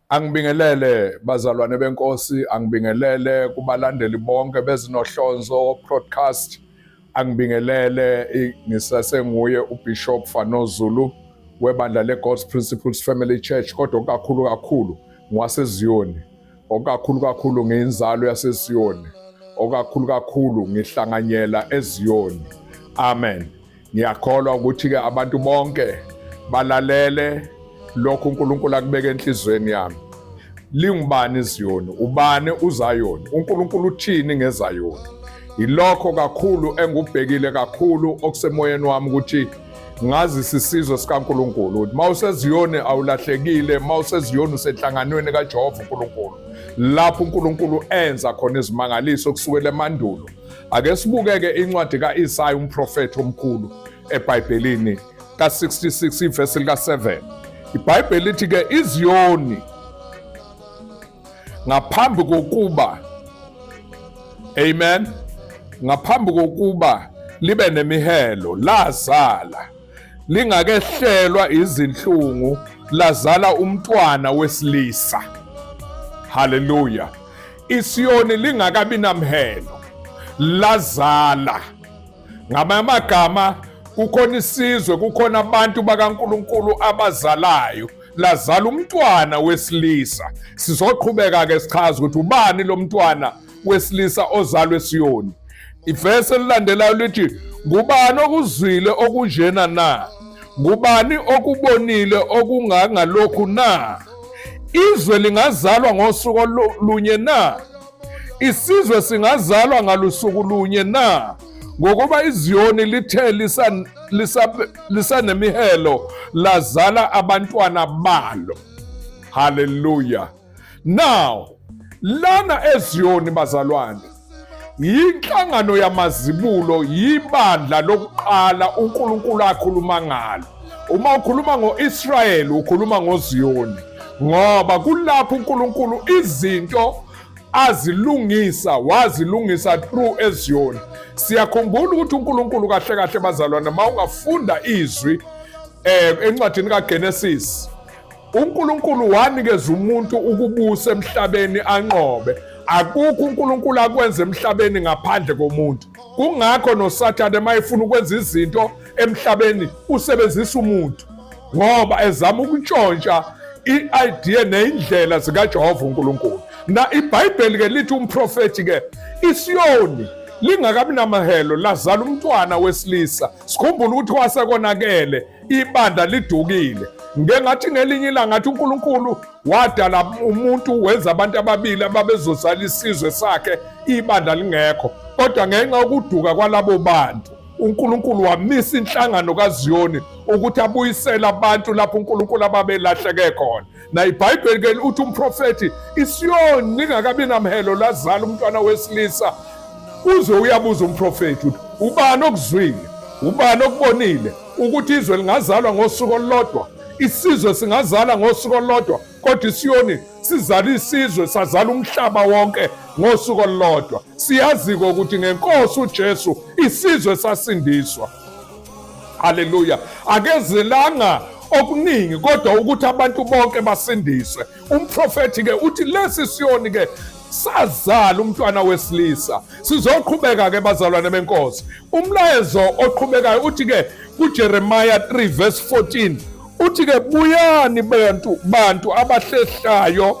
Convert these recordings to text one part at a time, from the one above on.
Angibingelele bazalwane benkosi, angibingelele kubalandeli bonke bezinohlonzo broadcast. Angibingelele ngisasenguye uBishop Fano Zulu webandla leGod's Principles Family Church kodwa kakhulu kakhulu ngwaseZiyoni. Okakhulu kakhulu ngiyinzalo yaseZiyoni. Okakhulu kakhulu ngihlanganyela eZiyoni. Amen. Ngiyakholwa ukuthi-ke abantu bonke balalele lokhu uNkulunkulu akubeke enhliziyweni yami. Lingubani iZiyoni? Ubani uZayoni? UNkulunkulu uthini ngeZayoni? Yilokho kakhulu engubhekile kakhulu okusemoyeni wami ukuthi ngazisa isizwe sikaNkulunkulu ukuthi uma useziyoni awulahlekile uma useziyoni usenhlanganweni kaJehova uNkulunkulu lapho uNkulunkulu enza khona izimangaliso kusukela emandulo Ake sibukeke incwadi ka-Isaya umprofethi omkhulu eBhayibhelini ka-66 ivesi lika-7. IBhayibheli lithi ke iZiyoni ngaphambi kokuba amen ngaphambi kokuba libe nemihelo lazala lingakehlelwa izinhlungu lazala umntwana wesilisa haleluya ISiyoni lingakabi namhelo lazala ngamanye amagama kukhona isizwe kukhona abantu bakaNkuluNkulu abazalayo lazala umntwana wesilisa sizoqhubeka ke sichaza ukuthi ubani lo mntwana wesilisa ozalwe eSiyoni Ivesi elilandelayo lithi ngubani okuzwile okunjena na? Ngubani okubonile okungangalokhu na? Izwe lingazalwa ngosuku olunye na? Isizwe singazalwa ngalusuku lunye na? Ngokuba iZiyoni lithe lisanemihelo lazala abantwana balo. Hallelujah. now lana eziyoni bazalwane yinhlangano yamazibulo yibandla lokuqala uNkulunkulu akhuluma ngalo uma ukhuluma ngoIsrael ukhuluma ngoZiyoni ngoba kulapho uNkulunkulu izinto azilungisa wazilungisa through eziyoni siyakhumbula ukuthi uNkulunkulu kahle kahle bazalwane uma ungafunda izwi eh encwadini kaGenesis uNkulunkulu wanikeza umuntu ukubusa emhlabeni anqobe akukho uNkulunkulu akwenza emhlabeni ngaphandle komuntu kungakho nosathane uma efuna ukwenza izinto emhlabeni usebenzisa umuntu ngoba ezama ukuntshontsha i-idea neyindlela zikajehova unkulunkulu na ibhayibheli ke lithi umprofethi ke isiyoni lingakabi namahelo lazala umntwana wesilisa sikhumbula ukuthi wasekonakele ibandla lidukile ngengathi ngelinye ilanga athi uNkulunkulu wadala umuntu wenza abantu ababili ababezozala isizwe sakhe ibandla lingekho kodwa ngenxa yokuduka kwalabo bantu uNkulunkulu wamisa inhlangano kaZiyoni ukuthi abuyisele abantu lapho uNkulunkulu ababelahleke khona na ibhayibheli ke uthi umprofethi isiyoni lingakabi namhelo lazala umntwana wesilisa uze uyabuza umprofethi uthi ubani okuzwile ubani okubonile ukuthi izwe lingazalwa ngosuku olulodwa isizwe singazala ngosuku olulodwa kodwa isiyoni sizala isizwe sazala umhlaba wonke ngosuku olulodwa siyazi-ke ukuthi ngenkosi ujesu isizwe sasindiswa haleluya akezelanga okuningi kodwa ukuthi abantu bonke basindiswe umprofethi-ke uthi lesi siyoni-ke sazala umntwana wesilisa sizoqhubeka-ke bazalwane benkosi umlayezo oqhubekayo uthi-ke kujeremiya 3 verse 14 uthi-ke buyani bantu bantu abahlehlayo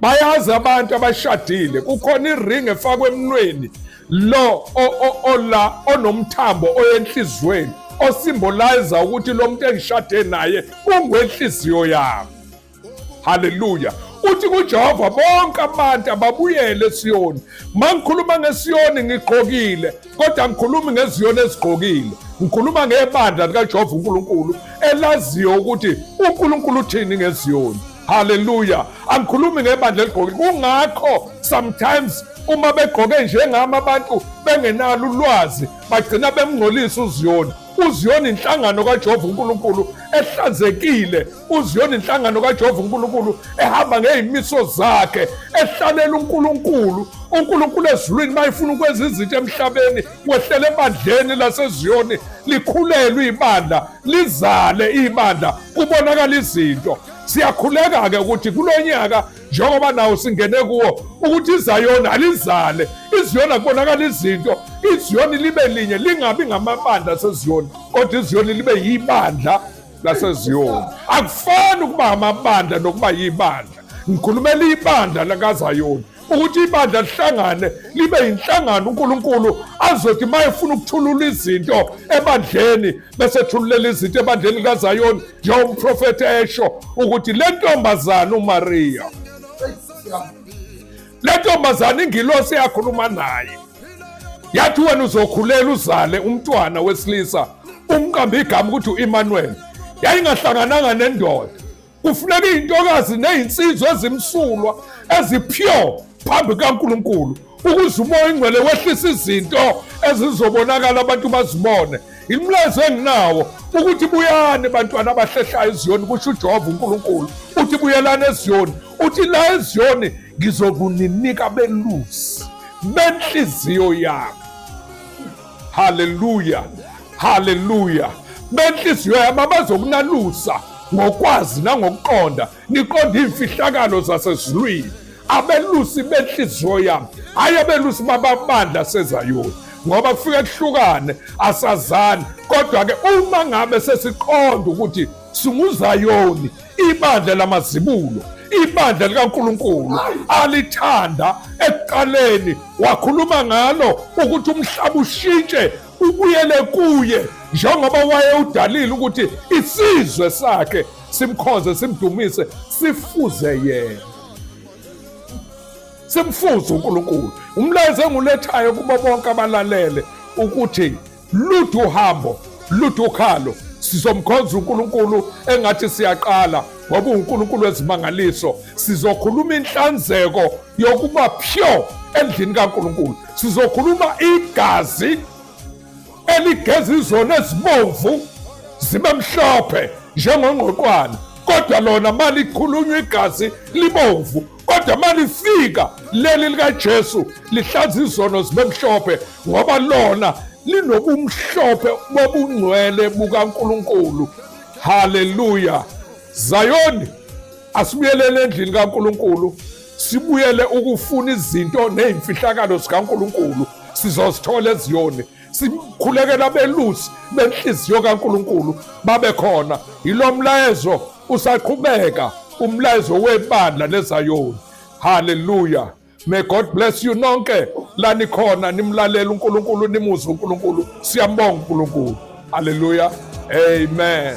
bayazi abantu abashadile kukhona iring efakwe emnweni lo ola onomthambo oyenhliziyweni osimbolize ukuthi lo muntu engishade naye ungwenhliziyo yami haleluya uthi kujehova bonke abantu ababuyele esiyoni ma ngikhuluma ngesiyoni ngigqokile kodwa ngikhulumi ngeziyoni ezigqokile ngikhuluma ngebandla likajehova unkulunkulu elaziyo ukuthi unkulunkulu uthini ngeziyoni Hallelujah. Angikhulumi ngebandla eligqoke. Kungakho sometimes uma begqoke njengami abantu bengenalo ulwazi bagcina bemngcolisa uZiyoni. UZiyoni inhlangano kaJehova uNkulunkulu ehlanzekile. UZiyoni inhlangano kaJehova uNkulunkulu ehamba ngezimiso zakhe, ehlalela uNkulunkulu. uNkulunkulu ezulwini mayifuna ukwenza izinto emhlabeni wehlela ebandleni laseZiyoni likhulelwe ibandla lizale ibandla kubonakala izinto Siyakhuleka-ke ukuthi kulo nyaka njengoba nawo singene kuwo ukuthi izayona alizale iziyona kubonakala izinto iziyoni libe linye lingabi ngamabandla aseziyoni kodwa iziyoni libe yibandla laseziyoni akufani ukuba amabandla nokuba yibandla ngikhulumela ibandla lakazayoni ukuthi ibandla lihlangane libe yinhlangano uNkulunkulu azothi uma efuna ukuthulula izinto ebandleni bese thululela izinto ebandleni likaZayoni njengoba umprofethi esho ukuthi le ntombazane uMariya le ntombazane ingilosi yakhuluma naye yathi wena uzokhulela uzale umntwana wesilisa umqambe igama ukuthi u-Emmanuel yayingahlangananga nendoda kufuneka izintokazi nezinsizwa ezimsulwa ezipure phambi kaNkulunkulu ukuze umoya ingcwele wehlisa izinto ezizobonakala abantu bazibone imlayezo enginawo ukuthi buyani bantwana abahlehlayo eziyoni kusho ujehova unkulunkulu uthi buyelani eziyoni uthi la eziyoni ngizokuninika belusi benhliziyo yami haleluya haleluya benhliziyo yami abazokunalusa ngokwazi nangokuqonda niqonda iy'mfihlakalo zasezulwini abelusi benhliziyo yami hhayi abelusi bababandla sezayoni ngoba kufike kuhlukane asazani kodwa-ke uma ngabe sesiqonda ukuthi singuzayoni ibandla lamazibulo ibandla likaNkulunkulu alithanda ekuqaleni wakhuluma ngalo ukuthi umhlaba ushintshe ubuyele kuye njengoba wayewudalile ukuthi isizwe sakhe simkhonze simdumise sifuze yena simfuze uNkulunkulu umlayezo engulethayo kubo bonke abalalele ukuthi lude uhambo lude ukhalo sizomkhonza uNkulunkulu engathi siyaqala ngoba uNkulunkulu wezimangaliso sizokhuluma inhlanzeko yokuba pure endlini kaNkulunkulu sizokhuluma igazi eligeza izona ezibomvu zibe mhlophe njengongqoqwana kodwa lona malikhulunywa igazi libomvu kodwa malifika leli likaJesu lihlaza izono zibe mhlophe ngoba lona linobumhlophe bobungcwele bukaNkulunkulu haleluya zayoni asibuyelele endlini kaNkulunkulu sibuyele ukufuna izinto nezimfihlakalo zikaNkulunkulu sizozithola eziyoni sikhulekela belusi benhliziyo kaNkuluNkulu babe khona yilo mlayezo usaqhubeka umlayezo webandla lezayoni haleluya may god bless you nonke la nikhona nimlalela uNkulunkulu nimuzwe uNkulunkulu siyambonga uNkulunkulu haleluya amen